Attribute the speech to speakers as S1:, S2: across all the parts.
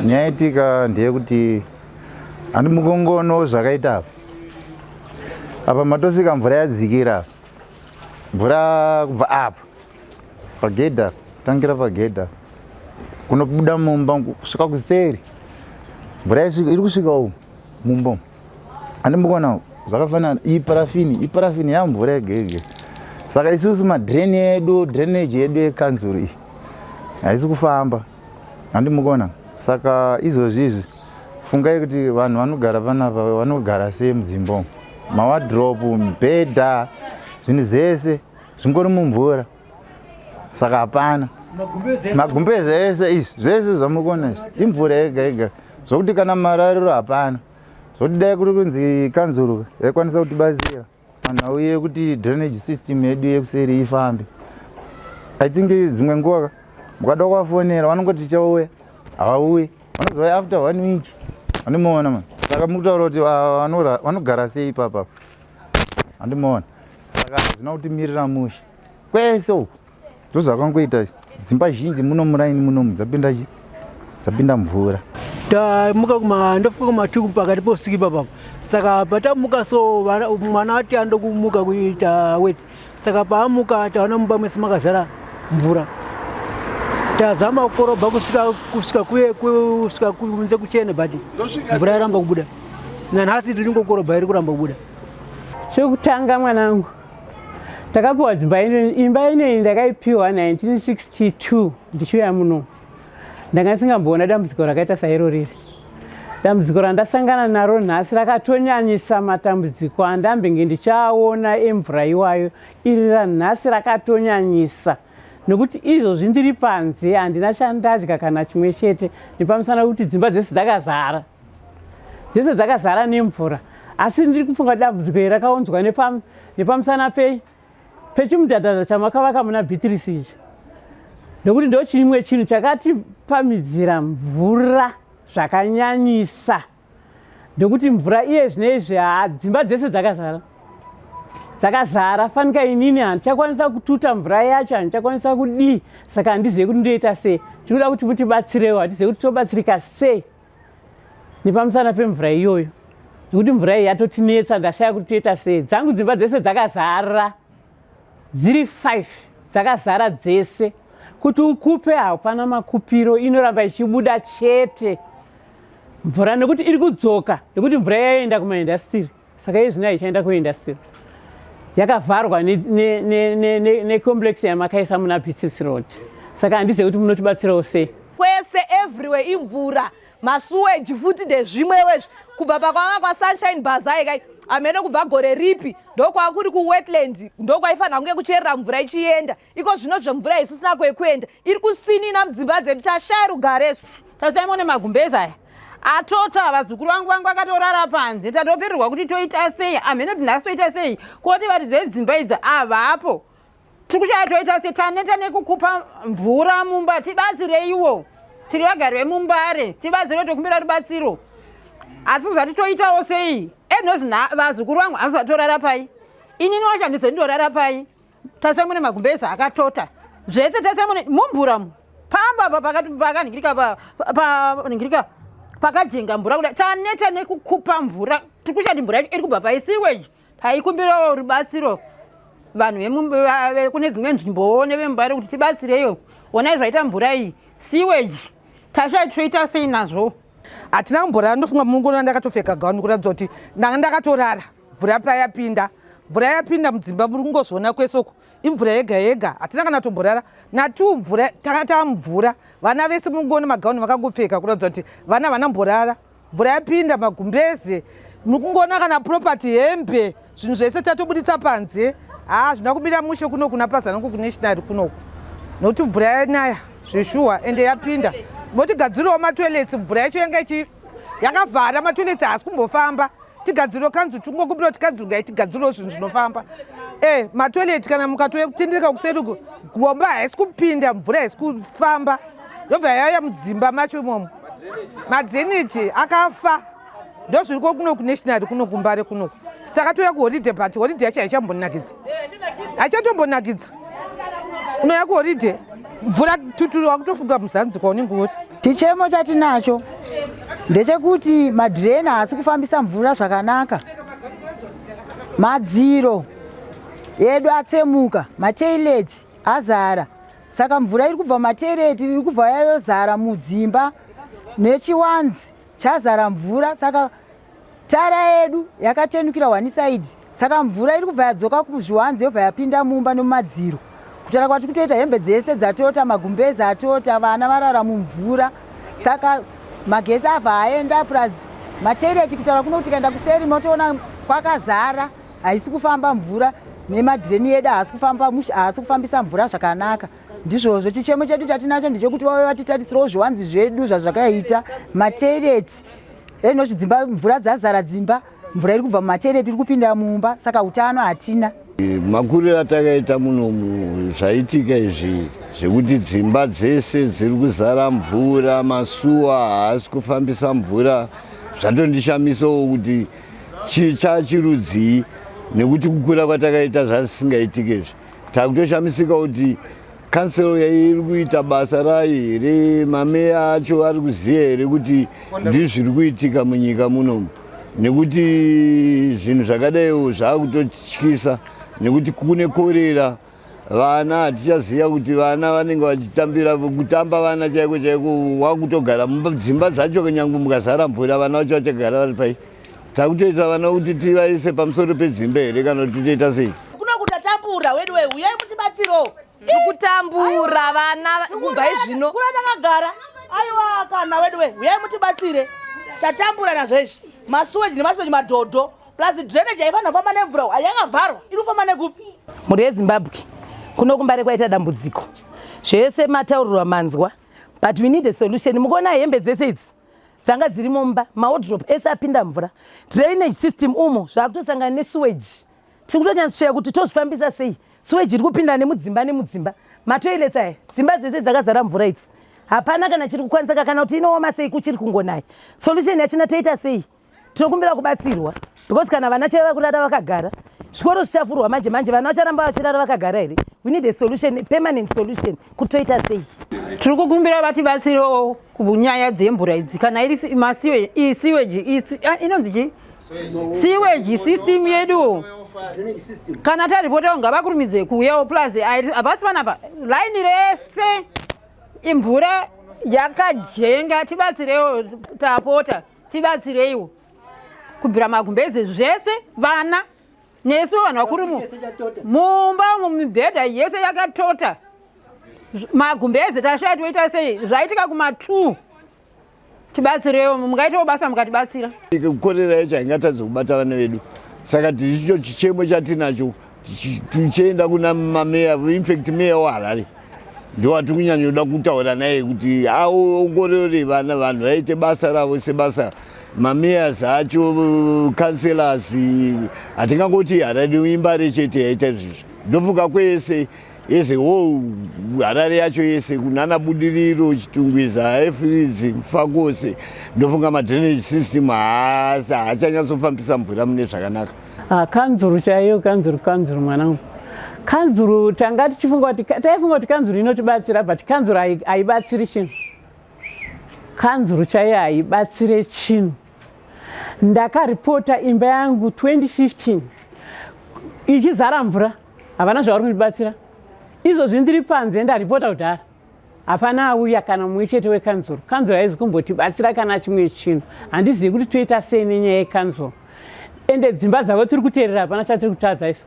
S1: Nyaitika ndeyekuti handi mukongono zvakaita apa apa matosvika mvura yadzikira mvura kubva apa pagedha tangira pagedha kunobuda mumba kusvika kuseri mvura iri kusvika umu mumba umu handi mukonao zvakafanana iyi parafini iyi parafini yamvura yegege saka isusu madrain edu drainage yedu yekanzuru iyi haisi kufamba handi mukona saka izvozvi izvi fungai kuti vanhu vanogara panapa vanogara sei mudzimba umu mawadrop mibhedha zvinhu zvese zvingori mumvura saka hapana magumbe zvese izvi zvese zvamukona izvi imvura yega yega zvokuti kana marariro hapana zvokuti dai kuri kunzi kanzuru yaikwanisa kutibatsira panhau yekuti drainage system yedu yekuseri ifambe i think dzimwe nguva mukada kuvafonera vanongoti tichauya havauyi vanozouya after one week vandimoona ma saka mukutaura kuti vanogara sei ipapa vandimoona saka hazvina kutimirira mushe kwese uku ndozvakangoita dzimba zhinji muno muraini munomu dzapinda chi dzapinda mvura tamuka
S2: kuma ndofuka kumatuku pakati posiki papapo saka patamuka so mwana ati andokumuka kuita weti saka paamuka taona mumba mwese makazara mvura tazama kukorobha kusvika kusvika kuye kusvika kunze kuchene but mvura yaramba kubuda nanhasi tiri ngokorobha iri kuramba kubuda chekutanga
S3: mwanangu takapiwa dzimba ino imba inoyi ndakaipiwa 1962 ndichiuya muno ndanga ndisingamboona dambudziko rakaita sairo riri dambudziko randasangana naro nhasi rakatonyanyisa matambudziko andambenge ndichaona emvura iwayo iri ranhasi rakatonyanyisa nokuti izvozvi ndiri panze handina chandadya kana chimwe chete nepamusana kuti dzimba dzese dzakazara dzese dzakazara nemvura asi ndiri kufunga dambudziko iri rakaunzwa nepamusana pei pechimudhadhadha chamakavaka muna beatrice ichi nekuti ndo chimwe chinhu chakatipamidzira mvura zvakanyanyisa nekuti mvura iye zvinoizvi haa dzimba dzese dzakazara dzakazara fanika inini handichakwanisa kututa mvura yacho handichakwanisa kudii saka handizive kuti ndoita sei tinoda kuti mutibatsirewo hatizive kuti tobatsirika sei nepamusana pemvura iyoyo nekuti mvura iyi yatotinetsa ndashaya kuti toita sei dzangu dzimba dzese dzakazara dziri five dzakazara dzese kuti ukupe hapana makupiro inoramba ichibuda chete mvura nekuti iri kudzoka nekuti mvura yayoenda kumaindastiri saka iye zvino aichaenda kuindastiri yakavharwa necomplex yamakaisa muna bitsits road saka handizive kuti munotibatsirawo sei kwese everywhere
S4: imvura masuweji futi ndezvimwewo izvi kubva pakwava kwasunshine bazai kai amene kubva gore ripi ndokwava kuri kuwetland ndokwaifanira kunge kucherera mvura ichienda iko zvino zvemvura isu sina kwekuenda iri kusinina mudzimba dzedu tashaya rugare tasaimone magumbeza aya atota vazukuru vangu vangu vakatorara panze tatopererwa kuti toita sei amhene kuti nhasi toita sei koti varidzi vedzimba idzi avapo tiri kushaya toita sei taneta nekukupa mvura mumba tibatsireiwo tiri vagari vemumbare tibatsiro tokumbira rubatsiro asi kuzati toitawo sei enozvina vazukuru vangu hanzi vatorara pai inini wacho handizondorara pai Tasamune magumbeza akatota zvese tasamune mumvura mu pamba apa pakati pakaningirika pa paningirika pakajenga mvura kuda taneta nekukupa mvura tiri kushati mvura iri kubva paisiweji taikumbirawo rubatsiro vanhu vekune dzimwe nzvimbowo nevemubare kuti tibatsireyo onai zvaita mvura iyi siweji tashati toita sei nazvo hatina kumborara
S5: ndofunga munguno yandakatopfeka gauni kuratidza kuti ndanga ndakatorara mvura payapinda mvura yapinda mudzimba muri kungozviona kwese uku imvura yega yega hatina kana tomborara natu mvura tanga tamvura vana vese munguona magauni vakangopfeka kuratidza kuti vana vana mborara mvura yapinda magumbeze muri kungoona kana property hembe zvinhu zvese tatobuditsa panze haa zvina kumira mushe kuno kuna pazanongo kunationary kunoku nokuti mvura yanaya zveshuwa ende yapinda motigadzirawo matoilets mvura yacho yanga ichi yakavhara matoilets haasi kumbofamba tigadziriro kanzu tingokumbirawo tikadzirgai tigadziriro zvinhu zvinofamba e eh, matoileti kana mukatouya kutendereka kuseruko gomba haisi kupinda mvura haisi kufamba yobva yauya mudzimba macho imomo madreneji akafa ndozviriko kuno kunationary kuno kumbare kuno sitakatouya kuhoride but horide yacho haichambonakidza haichatombonakidza unoya kuhoride mvura tuturu wakutofunga muzanzi kwaunenge uri chichemo chatinacho
S6: ndechekuti madhireni haasi kufambisa mvura zvakanaka madziro edu atsemuka matoileti azara saka mvura iri kubva matoileti iri kubva yayozara mudzimba nechiwanzi chazara mvura saka tara yedu yakatenukira one side saka mvura iri kubva yadzoka kuzviwanzi yobva yapinda mumba nomumadziro kutara kwati kutoita hembe dzese dzatota magumbezi atota vana varara mumvura saka magesi abva aenda plus matoireti kutaura kuno kuti kaenda kuseri motoona kwakazara haisi kufamba mvura nemadhireni yedu haasi kufamba musha haasi kufambisa mvura zvakanaka ndizvozvo chichemo chedu chatinacho ndechekuti vave vatitarisirawo zviwanzi zvedu zvazvakaita matereti eno zvidzimba mvura dzazara dzimba mvura iri kubva mumatereti iri kupinda mumba saka utano hatina makuriro
S7: atakaita munomu zvaitika izvi zvekuti dzimba dzese dziri kuzara mvura masuwa haasi kufambisa mvura zvatondishamisawo kuti chii chachirudzii nekuti kukura kwatakaita zvasisingaitike izvi Takutoshamisika kuti council yairi kuita basa rayo here mameya acho ari kuziva here kuti ndizvo zviri kuitika munyika munomu nekuti zvinhu zvakadaiwo zvaakutotyisa nekuti kune korera vana hatichaziva kuti vana vanenge vachitambira kutamba vana chaiko chaiko wakutogara dzimba dzacho nyangwe mukazara mvura vana vacho vachagara vari pai Takutoita vana kuti tivaise pamusoro pedzimba here kana kuti toita sei? Kuno kutatambura
S8: weduwe uyai mutibatsirewo. Tikutambura
S4: vana kubva izvino. Kuna takagara.
S8: Aiwa kana weduwe uyai mutibatsire. Tatambura nazvo izvi. Masuweji nemasuweji madhodho. Plus drainage haifanira kufamba nemvura uyu. Yakavharwa. Iri kufamba nekupi? Mhuri yeZimbabwe
S4: kuno kumbare kwaita dambudziko. Zvese mataurirwa manzwa. But we need a solution. Mukuona hembe dzese idzi? dzanga dziri mumba maodrop ese apinda mvura drainage system umo zvaakutosangana nesuwage tiri kutonyatsoshaya kuti tozvifambisa sei suwage iri kupinda nemudzimba nemudzimba matoilets aya dzimba dzese dzakazara mvura idzi hapana kana chiri kukwanisa kakana kuti inooma sei kuchiri kungonaya solution yachina toita sei tinokumbira kubatsirwa because kana vana chaiva kurara vakagara zvikoro zvichafurwa manje manje vana vacharamba vachirara vakagara here we need a solution a permanent solution kutoita sei tiri kukumbira
S3: vatibatsirewo kunyaya dzemvura idzi kana iri siweji inonzi chii siweji system yedu kana taripotawo ngavakurumidze kuuyawo plus havasi vanapa laini rese imvura yakajenga tibatsirewo tapota tibatsireiwo kubvira magumbeze zvese vana nesu vanhu vakuru mumba mumibhedha yese yakatota magumbeze tashaya toita sei zvaitika kuma t tibatsirewo mungaitawo basa mukatibatsira kukorera yacho
S7: haingatadzi kubata vana vedu saka tichicho chichemo chatinacho tichienda kuna mameya infact meya weharare ndowatiri kunyanyoda kutaura naye kuti aongorore vana vanhu vaite basa ravo sebasa mameyors acho councellors hatingangoti harare imbare chete yaita izvizvi ndofunga kwese yese wo harare yacho yese kunana budiriro chitungwiza efridzi mfa kwose ndofunga madrainage system haasi haachanyatsofambisa mvura mune zvakanaka Ah, kanzuru
S3: chaiyo kanzuru kanzuru mwanangu kanzuru tanga tichifunga kuti taifunga kuti kanzuru inotibatsira but kanzuru haibatsiri chinhu kanzuru chaiyo haibatsire chinhu ndakaripota imba yangu 2015 ichizara mvura havana zvavari kundibatsira izvozvi ndiri panze ndaripota kudhara hapana auya kana mumwe chete wekanzuru kanzuru haizi kumbotibatsira kana chimwe chinhu handizivi kuti toita sei nenyaya yekanzuru ende dzimba dzavo tiri kuteerera hapana chatiri kutadza isu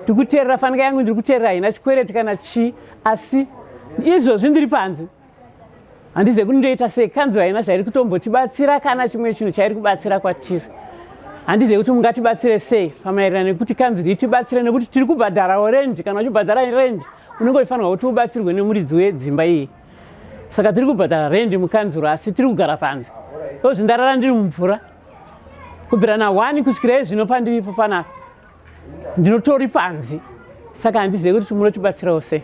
S3: tiri kuteerera fanika yangu ndiri kuteerera haina chikwereti kana chii asi izvozvi ndiri panze handizivi kuti ndoita sei kanzuru haina zvairi kutombotibatsira kana chimwe chinhu chairi kubatsira kwatiri handizivi kuti mungatibatsire sei pamaererano nekuti kanzuru itibatsire nekuti tiri kubhadharawo rendi kana uchibhadhara rendi unenge uchifanirwa kuti ubatsirwe nemuridzi wedzimba iyi saka tiri kubhadhara rendi mukanzuro asi tiri kugara panze ozvi ndarara ndiri mumvura kubvira na one kusvikira izvino pandiripo panapa ndinotori panzi saka handizive kuti munotibatsirawo sei